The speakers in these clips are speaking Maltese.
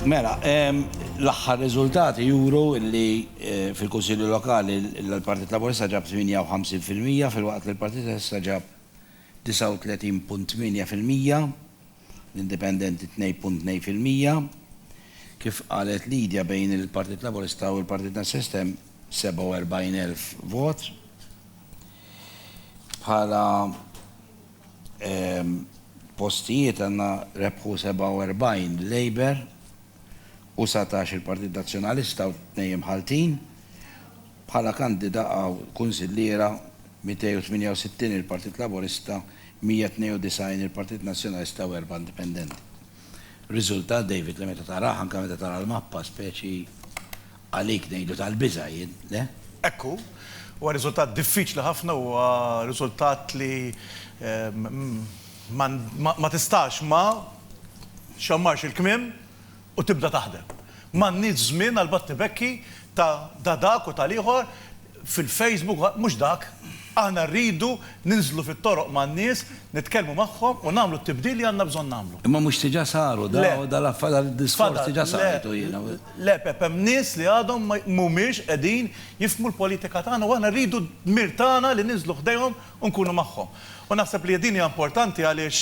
Mela, l-aħħar riżultati juru li eh, fil-Kunsilju Lokali l-Partit Laburista ġab 58% fil-waqt li l-Partit Essa ġab 39.8%, l-Indipendenti 2.2%, kif qalet Lidja bejn il-Partit Laburista u l-Partit Nassistem 47.000 vot. Bħala postijiet għandna rebħu 47 Labour u satax il-Partit Nazzjonalista u tnejn imħalltin. Bħala kandida għaw kunsilliera 268 il-Partit Laburista, 192 il-Partit Nazzjonalista u erbgħa indipendenti. Riżultat, David, li meta tarah, anke meta tara l-mappa, speċi għalik ngħidu tal-biża', jien, le? Hekk hu. Huwa riżultat diffiċli ħafna, huwa riżultat li ma tistax ma xxammarx il-kmiem u tibda taħdem. M'għandniex żmien għall-battibekki ta' da dak u tal-ieħor. fil-Facebook, mhux dak. Aħna rridu ninżlu fit-toroq man-nies, nitkellmu magħhom u nagħmlu t-tibdil li għandna bżonn nagħmlu. Imma mhux diġà saru da, dan id-diskors diġà smajtu jiena. Le Pepp, hemm nies li għadhom mhumiex qegħdin jifhmu l-politika tagħna u aħna rridu d-dmir tagħna li ninżlu ħdejhom u nkunu magħhom. U naħseb li din hija importanti għaliex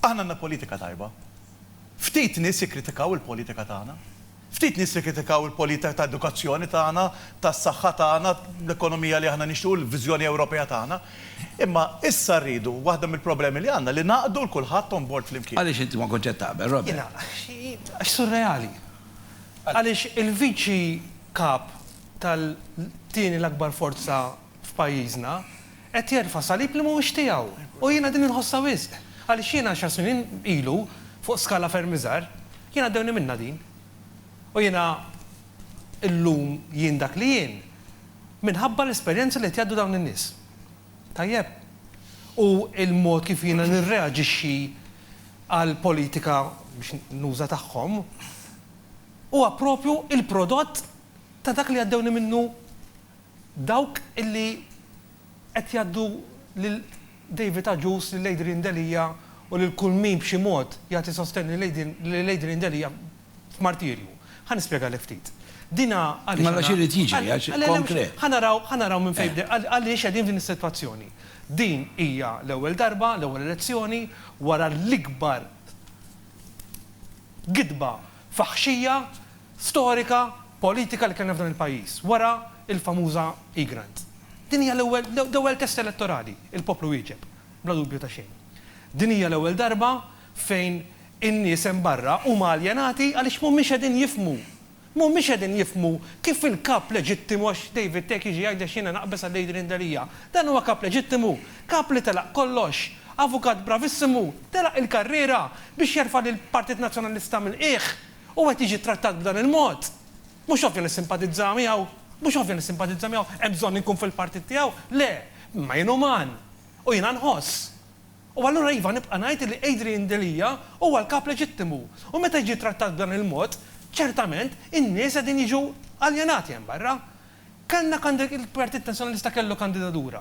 aħna għandna politika tajba. Ftit nies jikkritikaw il-politika tagħna. Ftit nies jikkritikaw il-politika ta' edukazzjoni tagħna, tas-saħħa tagħna, l-ekonomija li aħna nixtiequ, l-viżjoni Ewropea tagħna. Imma issa rridu, waħda mill-problemi li għandna, li ngħaqqdu 'l kulħadd on board flimkien. Għaliex inti ma kontx qed taqbel, Robert? Jiena, għax surreali. Għaliex il-Viċi Kap tal-tieni l-akbar forza f'pajjiżna Qed jerfa' salib li mhuwiex tiegħu. U jiena din inħossha wisq. Għaliex jiena għaxar snin ilu, fuq skala ferm iżgħar, jien għaddewni minnha din. U jiena llum jien dak li jien minħabba l-esperjenzi li qed jgħaddu dawn in-nies. Tajjeb? U l-mod kif jiena nirreaġixxi għall-politika, biex nuża, tagħhom, huwa proprju l-prodott ta' dak li għaddewni minnu Dawk li qed jgħaddu lil David Agius, lil Adrian Delia u lil kull min b'xi mod jagħti sostenn lil Adrian Delia f'martirju. Ħa nispjegalek ftit. Dina għaliex Mela x'irid jiġri? Għax konkret. Ħa naraw, ħa naraw minn fejn bdejna, għaliex qegħdin f'din is-sitwazzjoni. Din hija l-ewwel darba, l-ewwel elezzjoni wara l-ikbar gidba faħxija storika politika li kellna f'dan il-pajjiż wara l-famuża eGrant. Din hija l-ewwel l-ewwel test elettorali, il-poplu wieġeb, bla dubju ta' xejn. Din hija l-ewwel darba fejn in-nies hemm barra huma aljenati għaliex mhumiex qegħdin jifhmu, mhumiex qegħdin jifhmu kif il-kap leġittimu għax David Tech jiġi jgħidlex jiena naqbeż għal Adrian Delia. Dan huwa kap leġittimu, kap li telaq kollox, avukat bravissimu, telaq il-karriera biex jerfa' lill-Partit Nazzjonalista mill-qiegħ u qed jiġi ttrattat b'dan il-mod, mhux ovvja li ssimpatizza miegħu? Mhux ovvja li ssimpatizza miegħu? Hemm bżonn inkun fil-partit tiegħu? Le, imma jien uman, u jiena nħoss. U allura iva nibqa' ngħid li Adrian Delia huwa l-kap leġittimu, u meta jiġi ttrattat b'dan il-mod, ċertament in-nies qegħdin jiġu aljenati hemm barra. Kellna, il-Partit Nazzjonalista kellu kandidatura.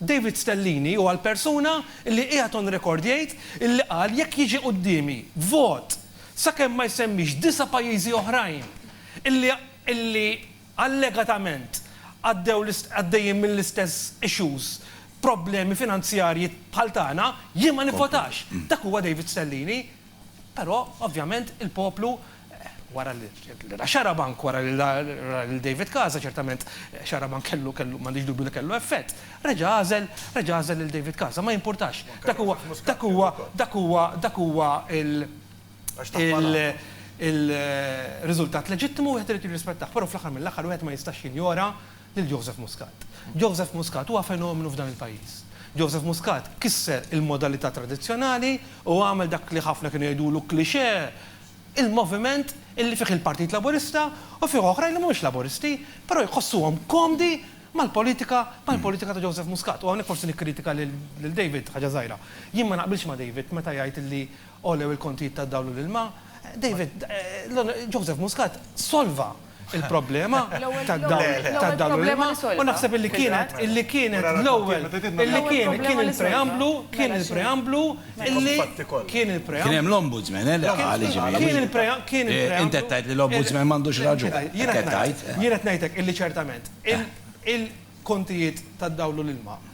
David Stellini huwa l-persuna li qiegħed on record jgħid li qal jekk jiġi quddiemi vot sakemm ma jsemmix disa' pajjiżi oħrajn li li allegatament għaddew għaddejjin mill-istess issues problemi finanzjarji bħal tagħna jien ma nivvotax. Dak huwa David Stellini. Però, ovvjament, il-poplu, wara li ra Xarabank, wara li ra lil David Casa, ċertament Xarabank kellu, kellu, m'għandix dubju li kellu effett, reġa' għażel, reġa' għażel lil David Casa. Ma jimpurtax. Dak huwa, dak huwa, dak huwa, dak huwa il, il, il, riżultat leġittimu u wieħed irid jirrispettah. Però fl-aħħar mill-aħħar wieħed ma jistax jinjora lil Joseph Muscat. Joseph Muscat huwa fenomenu f'dan il-pajjiż. Joseph Muscat kisser il-modalità tradizzjonali u għamel dak li ħafna kienu jgħidulu cliché, il-moviment illi fih il-Partit Laburista u fih oħrajn li mhumiex Laburisti, però jħossuhom komdi mal-politika mal-politika ta' Joseph Muscat. U hawnhekk forsi nikkritika lil David ħaġa żgħira. Jien ma naqbilx ma' David meta jgħid illi Għolew il-kontijiet tad-dawl u l-ilma. David, Joseph Muscat solva l-problema tad-dawl u l-ilma u naħseb li kienet li kienet l-ewwel li kien kien il-preamblu kien il-preamblu li kien il-preamblu. Kien hemm l-Ombudsman, eh, li qal jiġifieri. Kien il-preamblu kien il-preamblu. Int qed tgħid li l-Ombudsman m'għandux raġun. Jien qed ngħid. Jien qed ngħidlek illi ċertament il-kontijiet tad-dawl u l-ilma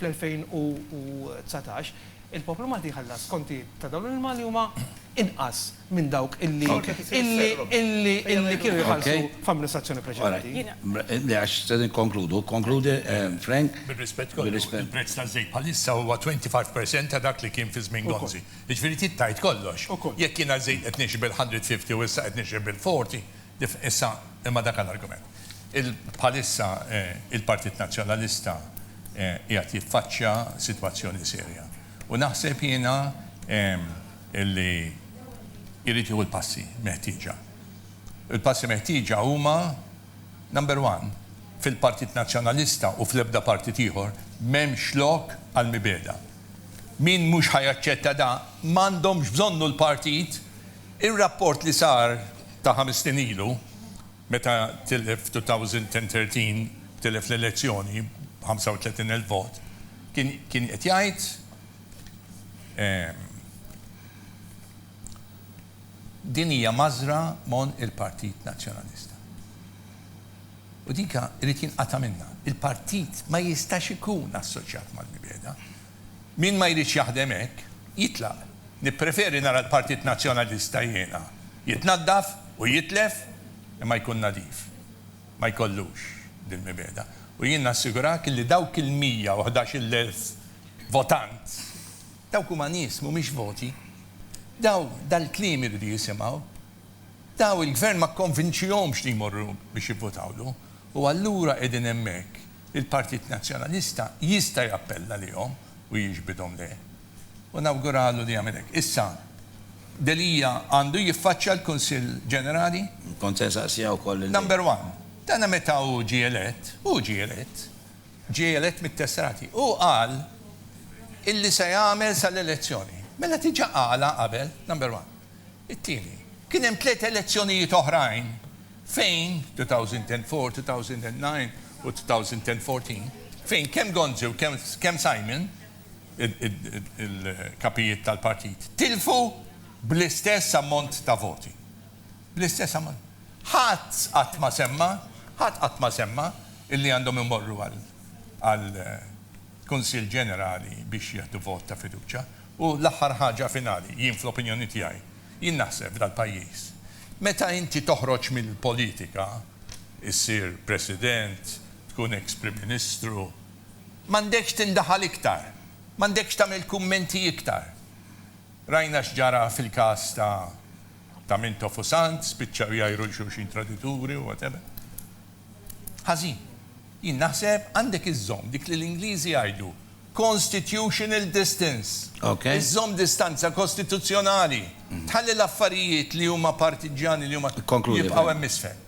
fl-2019, il-poplu Malti jħallas kontijiet ta' dawn l-ilma li huma inqas minn dawk illi illi illi kienu jitħallsu f'amministrazzjoni preċedenti. Le għax se nikkonkludu. Ikkonkludi Frank. Bir-rispett kollu, il-prezz taż-żejt bħalissa huwa 25 percent ta' dak li kien fi żmien Gonzi. Jiġifieri trid tgħid kollox. Jekk jiena ż-żejt qed nixri bil-150 u issa qed nixri bil-40, Issa, imma dak l-argument. Bħalissa il-Partit Nazzjonalista qiegħed jiffaċċja sitwazzjoni serja u naħseb jiena li jrid jieħu l-passi meħtieġa. Il-passi meħtieġa huma, number one, fil-Partit Nazzjonalista u fl-ebda partit ieħor m'hemmx lok għall-mibegħda. Min mhux ħa jaċċetta dan, m'għandhomx bżonnu l-partit Ir-rapport li sar ta' ħames snin ilu, meta tilef f'two-tawżent-en-tertin, tilef l-elezzjoni b'ħamsa u tletin elf vot, kien kien qed jgħid, Din hija mażżra mon il-Partit Nazzjonalista. U dika irid jinqata' minnha. Il-partit ma jistax ikun assoċjat mal-mibegħda. Min ma jridx jaħdem hekk, jitlaq. Nippreferi nara l-Partit Nazzjonalista jiena, jitnaddaf u jitlef imma jkun nadif. Ma jkollux dil-mibegħda. U jien nassigurak illi dawk il-mija u ħdax-il elf votant, dawk huma nies, mhumiex voti. Daw dal-kliem iridu jisimgħu. Daw il-Gvern ma kkonvinċihomx li jmorru biex jivvotawlu. U allura qegħdin hemmhekk. Il-Partit Nazzjonalista jista' jappella lihom u jiġbidhom lejh. U nawguralu li jagħmel hekk. Issa, Delia għandu jiffaċċja l-Kunsill Ġenerali? Kont se nsaqsiha wkoll lil hi. Number one, dana meta hu ġie elett, hu ġie elett, ġie elett mit-Tesserati, hu qal illi se jagħmel sal-elezzjoni. Mela diġà qalha qabel, number one. It-tieni, kien hemm tliet elezzjonijiet oħrajn fejn, 2004, 2009 u 2014, fejn kemm Gonzi u kemm Simon, il-kapijiet tal-partit, tilfu bl-istess ammont ta' voti. Bl-istess ammont. Ħadd qatt ma semma, ħadd qatt ma semma illi għandhom imorru għal, għal, Kunsill Ġenerali biex jieħdu vot ta' fiduċja. U l-aħħar ħaġa finali, jien fl-opinjoni tiegħi, jien naħseb dal-pajjiż, meta inti toħroġ mill-politika, issir President, tkun eks Prim Ministru, m'għandekx tindaħal iktar, m'għandekx tagħmel kummenti iktar. Rajna x'ġara fil-każ ta' ta' Mintoff u Sant, spiċċaw jgħajru 'l xulxin tradituri u whatever. Ħażin. Jien naħseb għandek iżżomm dik li l-Ingliżi jgħidu constitutional distance. Iżżomm distanza kostituzzjonali. Tħalli l-affarijiet li huma partiġġjani li huma jibqgħu hemm isfel.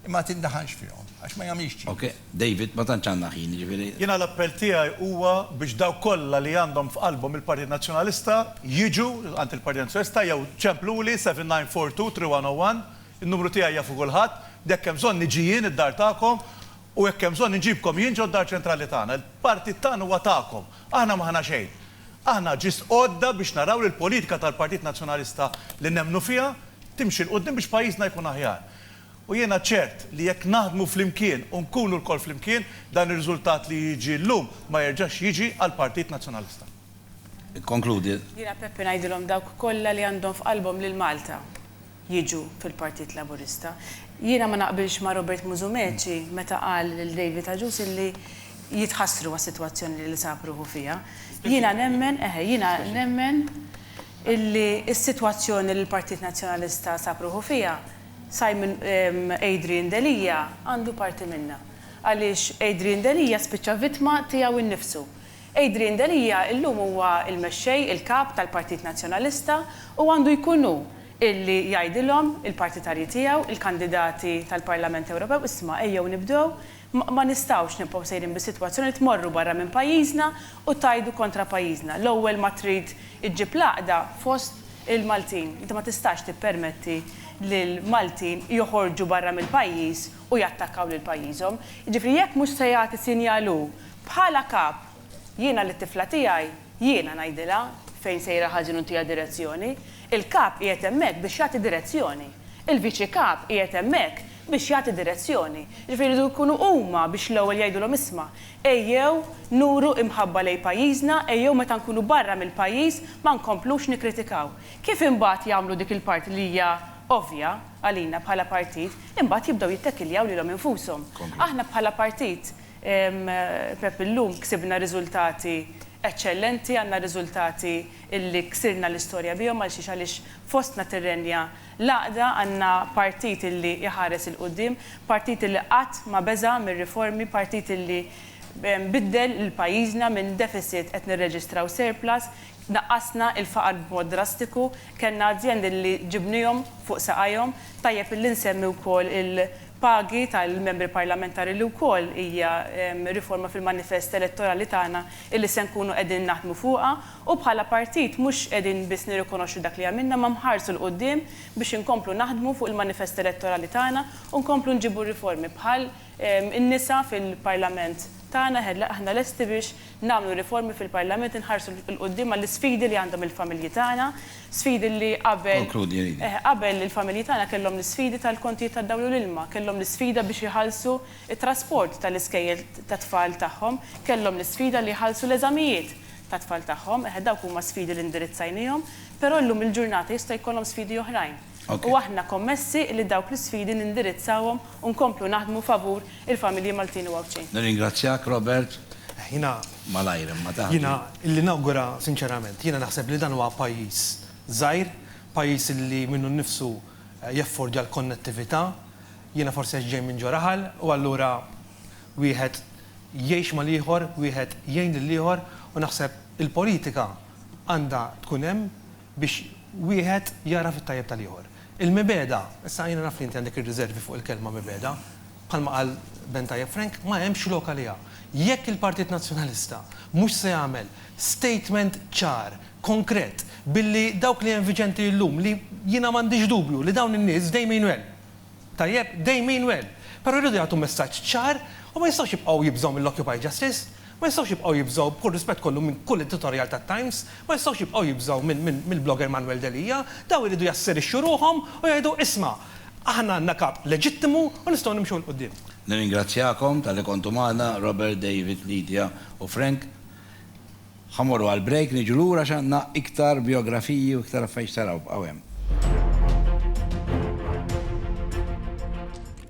Imma ma tindaħalx fihom għax ma jagħmilx ċins. Ok, David, ma tantx għandna ħin, jiġifieri. Jiena l-appell tiegħi huwa biex dawk kollha li għandhom f'qalbhom il-Partit Nazzjonalista jiġu għand il-Partit Nazzjonalista jew ċempluli 7942 3101 In-numru tiegħi jafu kulħadd, jekk hemm bżonn niġi jien id-dar tagħkom u jekk hemm bżonn inġibkom jien ġod-dar ċentrali tagħna. Il-partit tagħna huwa tagħkom. Aħna m'aħna xejn. Aħna ġist għodda biex naraw li l-politika tal-Partit Nazzjonalista li nemmnu fiha timxi 'l quddiem biex pajjiżna jkun aħjar. U jiena ċert li jekk naħdmu flimkien u nkunu lkoll flimkien, dan ir-riżultat li jiġi llum ma jerġax jiġi għall-Partit Nazzjonalista. Ikkonkludi. Jiena Peppi ngħidilhom dawk kollha li għandhom f'qalbhom lil Malta. jiġu fil-Partit Laburista. Jiena ma naqbilx ma' Robert Musumeci meta qal lil David Agius illi jitħassru għas-sitwazzjoni li sab ruħu fiha. Jiena nemmen, eħe, jiena nemmen illi s-sitwazzjoni li l-Partit Nazzjonalista sab ruħu fiha, Simon, Adrian Delia għandu parti minnha. Għaliex Adrian Delia spiċċa vittma tiegħu nnifsu. Adrian Delia illum huwa l-mexxej, il-kap tal-Partit Nazzjonalista u għandu jkun hu illi jgħidilhom, il-partitarji tiegħu, il-kandidati tal-Parlament Ewropew, isma' ejjew nibdew, ma nistgħux nibqgħu sejrin bis-sitwazzjoni li tmorru barra minn pajjiżna u tgħidu kontra pajjiżna. L-ewwel ma trid iġġib l-għaqda fost il-Maltin. Inti ma tistax tippermetti li l-Maltin joħorġu barra mill-pajjiż u jattakkaw lil pajjiżhom. Jiġifieri jekk mhux se jagħti sinjal hu Bħala kap, jiena lit-tifla tiegħi, jiena ngħidilha fejn sejra ħażin u ntiha direzzjoni. Il-kap qiegħed hemmhekk biex jagħti direzzjoni. Il-viċi kap qiegħed hemmhekk biex jagħti direzzjoni. Jiġifieri jridu jkunu huma biex l-ewwel jgħidulhom isma', ejjew nuru imħabba lejn pajjiżna, ejjew meta nkunu barra mill-pajjiż ma nkomplux nikkritikaw. Kif imbagħad jagħmlu dik il-parti li hija ovvja għalina bħala partit, imbagħad jibdew jittekiljaw lilhom infushom. Aħna bħala partit, Pepp illum ksibna riżultati eċċellenti, għandna riżultati li ksirna l-istorja bihom għalxiex għaliex fostna tirrenja l-għaqda, għandna partit li jħares 'il quddiem, partit li qatt ma beża' mir-riformi, partit li biddel lil pajjiżna minn deficit qed nirreġistraw surplus, naqqasna l-faqar b'mod drastiku, kellna azjendi li ġibniehom fuq saqajhom, tajjeb li nsemmi wkoll il, pagi tal-Membri Parlamentari li wkoll hija riforma fil-manifest elettorali tagħna illi se nkunu qegħdin naħdmu fuqha u bħala partit mhux qegħdin biss nirrikonoxxu dak li għamilna imma mħarsu 'l quddiem biex inkomplu naħdmu fuq il-manifest elettorali tagħna u nkomplu nġibu riformi bħal in-nisa fil-Parlament tagħna aħna lesti biex nagħmlu riformi fil-Parlament, inħarsu 'l quddiem għall-isfidi li għandhom il-familji tagħna, sfidi li qabel, eh, qabel il-familji tagħna kellhom l-isfidi tal-kontijiet tad-dawl u l-ilma, kellhom l-isfida biex iħallsu t-trasport tal-iskejjel tat-tfal tagħhom, kellhom l-isfida li jħallsu l-eżamijiet tat-tfal tagħhom, eh, dawk huma sfidi li indirizzajnihom, però llum il-ġurnata jista' jkollhom sfidi oħrajn. u aħna kommessi li dawk l-isfidi nindirizzawhom u nkomplu naħdmu favur il-familji Maltin u Għawdxin. Nirringrazzjak, Robert. Jiena. Malajr imma taħt. Jiena li nawgura sinċerament. Jiena naħseb li dan huwa pajjiż żgħir, pajjiż li minnu nnifsu jeffordja l-konnettività. Jiena forsi għax ġej minn ġo raħal u allura wieħed jgħix mal-ieħor, wieħed jgħin lill-ieħor u naħseb il-politika għandha tkun hemm biex wieħed jagħraf it-tajjeb tal-ieħor. Il-mibegħda, issa jiena naf li inti għandek ir-riservi fuq il-kelma mibegħda, bħalma qal Ben tajjeb Frank, ma hemmx lok għaliha. Jekk il-Partit Nazzjonalista mhux se jagħmel statement ċar, konkret, billi dawk li hemm viġenti llum li jiena m'għandix dubju li dawn in-nies dejminu hemm, Tajjeb, they mean well. Però jridu jagħtu messaġġ ċar u ma jistgħux jibqgħu jibżgħu mill-Occupy Justice, ma jistgħux jibqgħu jibżgħu, b'kull rispett kollu, minn kull editorial tat-Times, ma jistgħux jibqgħu jibżgħu mill-blogger Manuel Delia. Dawn iridu jasserixxu ruħhom u jgħidu, isma', aħna għandna kap leġittimu u nistgħu nimxu 'l quddiem. Nirringrazzjakom talli kontu magħna, Robert, David, Lydia u Frank. Ħa mmorru għal break, niġu lura għax għandna iktar bijografiji u iktar affarijiet x'taraw, bqgħu hemm.